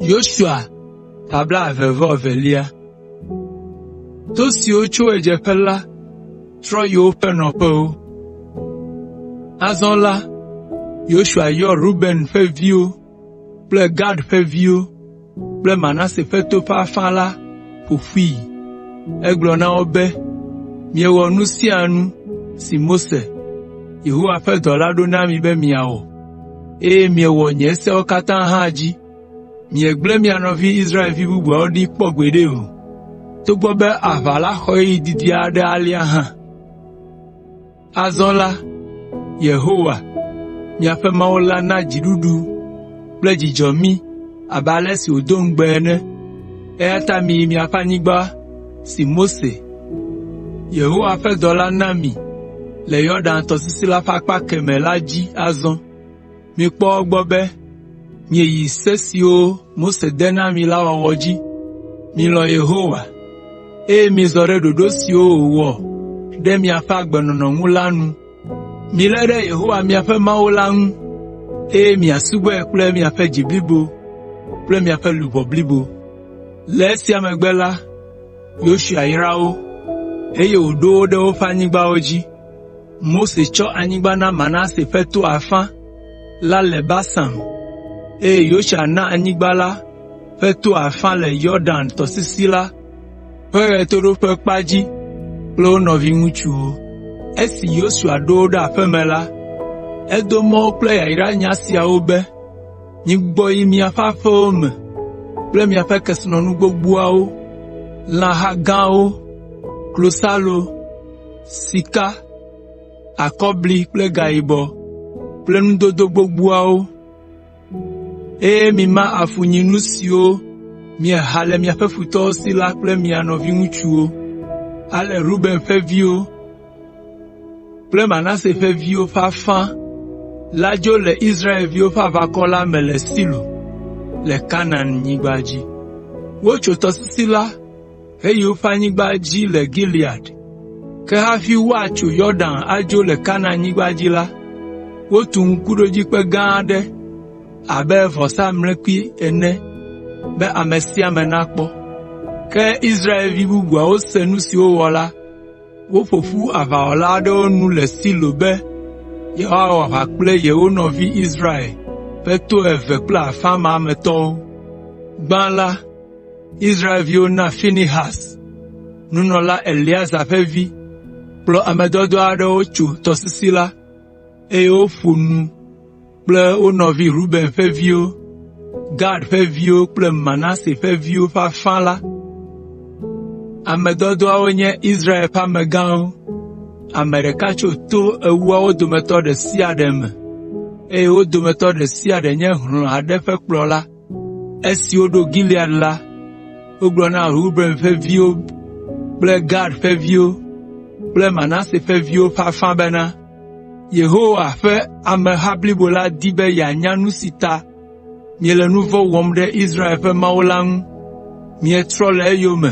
Yosua ƒe blaeve vɔ evelia. To siwo tso ɣedzeƒe la trɔ yi woƒe nɔƒewo. Azɔ la, Yosua yɔ Ruben ƒe viwo kple Gad ƒe viwo kple Manase ƒe to ƒe afã la ƒo ƒui. Egblɔ na wo be, “Miewɔ nu sia nu si Mose, Yehowa ƒe dɔla ɖo na mi be miawɔ, eye miewɔ nye sewo katã hã dzi. Miegblẽ mia nɔvi Israelvi bubuawo ɖi kpɔ gbeɖe o, togbɔ be aʋa la xɔ ɣeyiɣi didi aɖe alea hã. Azɔ la, Yehowa, miaƒe Mawu la na dziɖuɖu kple dzudzɔ mí abe ale si wòdo ŋugbe ene. Eya ta miyi miaƒe anyigba si Mose, Yehowa ƒe dɔla na mi le Yɔdan tɔsisi la ƒe akpa kemɛ la dzi azɔ.” Mikpɔ egbɔ be mieyi se siwo Mose de na mi la wɔwɔ dzi. Milɔ̃ Yehowa, eye mizɔ ɖe ɖoɖo siwo wòwɔ ɖe miaƒe agbenɔnɔ ŋu la nu. Milé ɖe Yehowa miaƒe Mawu la ŋu, eye miasubɔe kple miaƒe dzi blibo kple miaƒe luʋɔ blibo.” Le esia megbe la, Yosua yra wo, eye wòɖo wo ɖe woƒe anyigbawo dzi. Mose tsɔ anyigba na Manase ƒe to afã la le Basan, eye Yosua na anyigba la ƒe to afã le Yɔdan tɔsisi la ƒe ɣetoɖoƒe kpa dzi kple wo nɔviŋutsuwo. Esi Yosua ɖo wo ɖe aƒe me la, edo mɔ wo kple yayra nya siawo be, “Migbɔ yi miaƒe aƒewo me kple miaƒe kesinɔnu gbogboawo, lãha gãwo, klosalo, sika, akɔbli kple gayibɔ kple nudodo gbogboawo, eye mima afunyinu siwo mieha le miaƒe futɔwo si la kple mia nɔviŋutsuwo. Ale Ruben ƒe viwo kple Manase ƒe viwo ƒe afã la dzo le Israelviwo ƒe aʋakɔ la me le Silo le Kanaanyigba dzi. Wotso tɔsisi la heyi woƒe anyigba dzi le Gilead. Ke hafi woatso Yɔdan adzo le Kanaanyigba dzi la, wotu ŋkuɖodzikpe gã aɖe abe vɔsamlekpui ene be ame sia ame nakpɔ. Ke Israelvi bubuawo se nu si wowɔ la, woƒo ƒu aʋawɔla aɖewo nu le Silo be yewoawɔ aʋa kple yewo nɔvi Israel ƒe to eve kple afã ma me tɔwo. Israelviwo na Finehas, nunɔla Eleazar ƒe vi, kplɔ ame dɔdɔa aɖewo tso tɔsisi la, eye woƒo nu kple wo nɔvi Ruben ƒe viwo, Gad ƒe viwo kple Manase ƒe viwo ƒe afã la. Ame dɔdɔawo nye Israel ƒe amegãwo, ame ɖeka tso to ewoawo dometɔ ɖe sia ɖe me, eye wo dometɔ ɖe sia ɖe nye hlɔ̃ aɖe ƒe kplɔla. Esi woɖo Gilead la, wogblɔ na Ruben ƒe viwo kple Gad ƒe viwo kple Manase ƒe viwo ƒe afã bena, “Yehowa ƒe ameha blibo la di be yeanya nu si ta miele nu vɔ̃ wɔm ɖe Israel ƒe Mawu la ŋu. Mietrɔ le eyome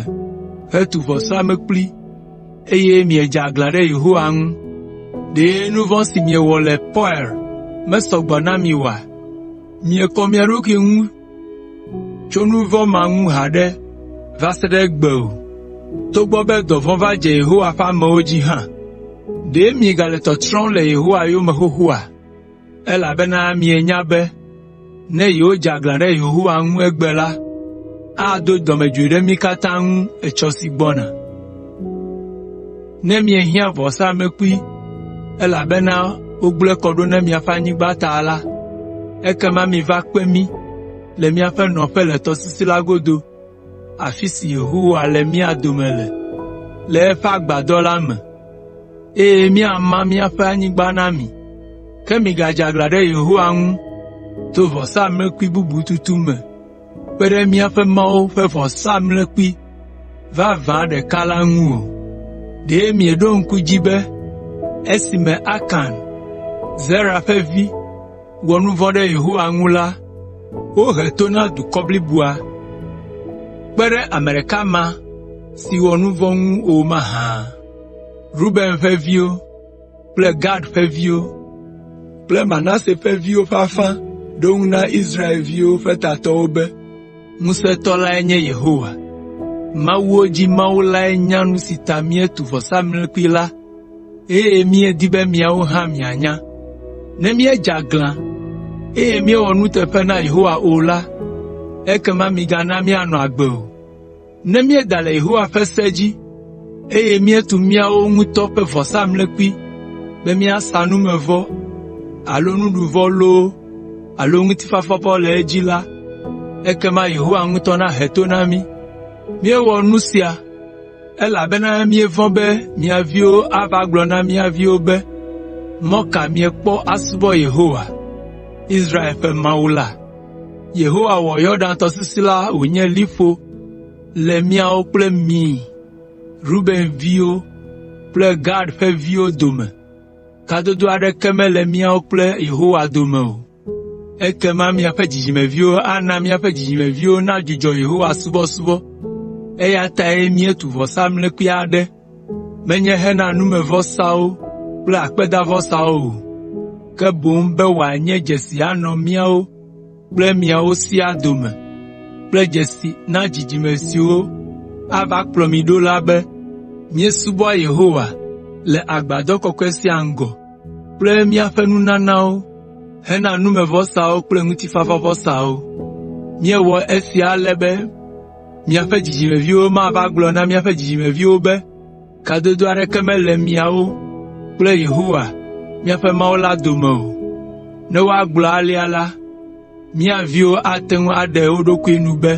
hetu vɔsamlekpui, eye miedze aglã ɖe Yehowa ŋu. Ɖe nu vɔ̃ si miewɔ le Peoa mesɔ gbɔ na mi oa? “Miekɔ mia ɖokui ŋu tso nu vɔ̃ ma ŋu haɖe va se ɖe egbe o, togbɔ be dɔvɔ̃ va dze Yehowa ƒe amewo dzi hã. Ɖe miegale tɔtrɔm le Yehowa yome xoxoa? Elabena mienya be ne yewodze aglã ɖe Yehowa ŋu egbe la, ado dɔmedzoe ɖe mí katã ŋu etsɔ si gbɔna. ne miehiã vɔsamlekpui, elabena wogblẽ kɔ ɖo na miaƒe anyigba ta la, ekema miva kpe mí le míaƒe nɔƒe le tɔsisi la godo, afi si Yehowa le mía dome le, le eƒe agbadɔ la me, eye míama míaƒe anyigba na mi. Ke migadze aglã ɖe Yehowa ŋu to vɔsamlekpui bubu tutu me kpe ɖe míaƒe Mawu ƒe vɔsamlekpui vavã ɖeka la ŋu o. Ɖe mieɖo ŋku edzi be esime Akan, Zera ƒe vi, wɔ nu vɔ̃ ɖe Yehowa ŋu la, wohe to na dukɔ bliboa, kpe ɖe ame ɖeka ma si wɔ nu vɔ̃ ŋu o mahã? Ruben ƒe viwo kple Gad ƒe viwo kple Manase ƒe viwo ƒe afã ɖo eŋu na Israelviwo ƒe tatɔwo be, “Ŋusẽtɔ lae nye Yehowa! Mawuwo dzi Mawu lae nya nu si ta míetu vɔsamlekpui la, eye míedi be miawo hã mianya. Ne míedze aglã, eye míewɔ nuteƒe na Yehowa o la, ekema migana míanɔ agbe o.” Ne míeda le Yehowa ƒe se dzi, eye míetu míawo ŋutɔ ƒe vɔsamlekpui be míasa numevɔ alo nuɖuvɔ loo alo ŋutifafavɔ le edzi la, ekema Yehowa ŋutɔ nahe to na mí. Míewɔ nu sia, elabena míevɔ̃ be mia viwo ava gblɔ na mía viwo be, ‘Mɔ ka míekpɔ asubɔ Yehowa, Israel ƒe Mawu la? Yehowa wɔ Yɔdan tɔsisi la wònye liƒo le míawo kple mi, Ruben ƒe viwo kple Gad ƒe viwo dome. Kadodo aɖeke mele míawo kple Yehowa dome o. Ekema miaƒe dzidzimeviwo ana míaƒe dzidzimeviwo nadzudzɔ Yehowa subɔsubɔ.” Eya tae míetu vɔsamlekpui aɖe menye hena numevɔsawo kple akpedavɔsawo o, ke boŋ be wòanye dzesi anɔ míawo kple miawo siaa dome kple dzesi na dzidzime siwo ava kplɔ mi ɖo la be, míesubɔa Yehowa le agbadɔ kɔkɔe sia ŋgɔ kple míaƒe nunanawo hena numevɔsawo kple ŋutifafavɔsawo. Míewɔ esia ale be Miaƒe dzidzimeviwo mava agblɔ na míaƒe dzidzimeviwo be, ‘Kadodo aɖeke mele miawo kple Yehowa, míaƒe Mawu la dome o.’ Ne woagblɔ alea la, mía viwo ate ŋu aɖe wo ɖokui nu be,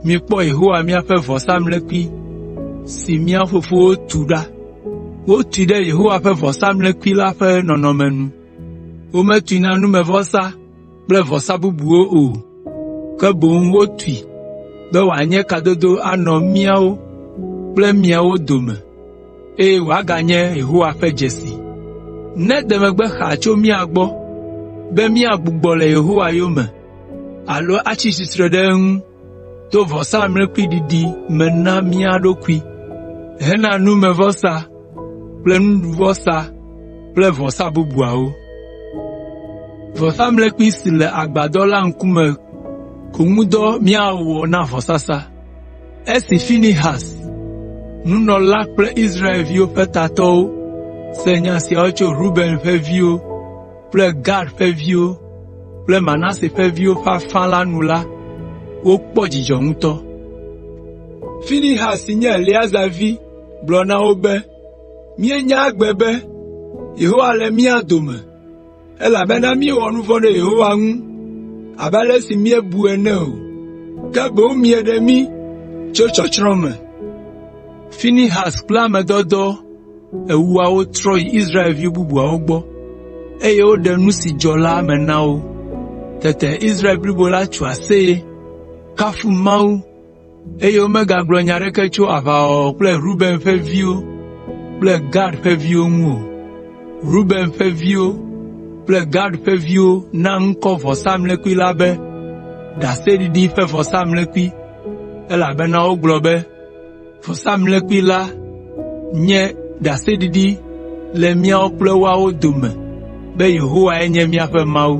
‘Mikpɔ Yehowa míaƒe vɔsamlekpui si mía fofowo tu ɖa. Wotui ɖe Yehowa ƒe vɔsamlekpui la ƒe nɔnɔme nu. Wometui na numevɔsa kple vɔsa bubuwo o, ke boŋ wotui be wòanye kadodo anɔ míawo kple miawo dome, eye wòaganye Yehowa ƒe dzesi. Nede megbe xaa tso mía gbɔ be míagbugbɔ le Yehowa yome alo atsi tsitre ɖe eŋu to vɔsamlekpui ɖiɖi me na mía ɖokui hena numevɔsa kple nuɖuvɔsa kple vɔsa bubuawo. Vɔsamlekpui si le agbadɔ la ŋkume ko ŋu dɔ míawɔ na vɔsasa. Esi Finehas, nunɔla kple Israel ƒe tatɔwo se nya siawo tso Ruben ƒe viwo, kple Gad ƒe viwo kple Manase ƒe viwo ƒe afã la nu la, wokpɔ dzidzɔ ŋutɔ. Finehas si nye Eleazar vi gblɔ na wo be, “Míenya egbe be Yehowa le mía dome, elabena míewɔ nu vɔ̃ ɖe Yehowa ŋu abe ale si míebu ene o, ke boŋ mieɖe mí tso tsɔtsrɔ̃ me.” Eŋua wotrɔ yi Israelvi bubuawo gbɔ, eye woɖe nu si dzɔ la me na wo. Tete Israel blibo la tso aseye, kafu Mawu, eye womegagblɔ nya aɖeke tso aʋawɔwɔ kple Ruben ƒe viwo kple Gad ƒe viwo ŋu o. Ruben ƒe viwo kple Gad ƒe viwo na ŋkɔ vɔsamlekpui la be, “Ɖaseɖiɖi ƒe vɔsamlekpui,” elabena wogblɔ be, Vɔsamlekpui la nye ɖaseɖiɖi le míawo kple woawo dome be Yehowae nye míaƒe Mawu.”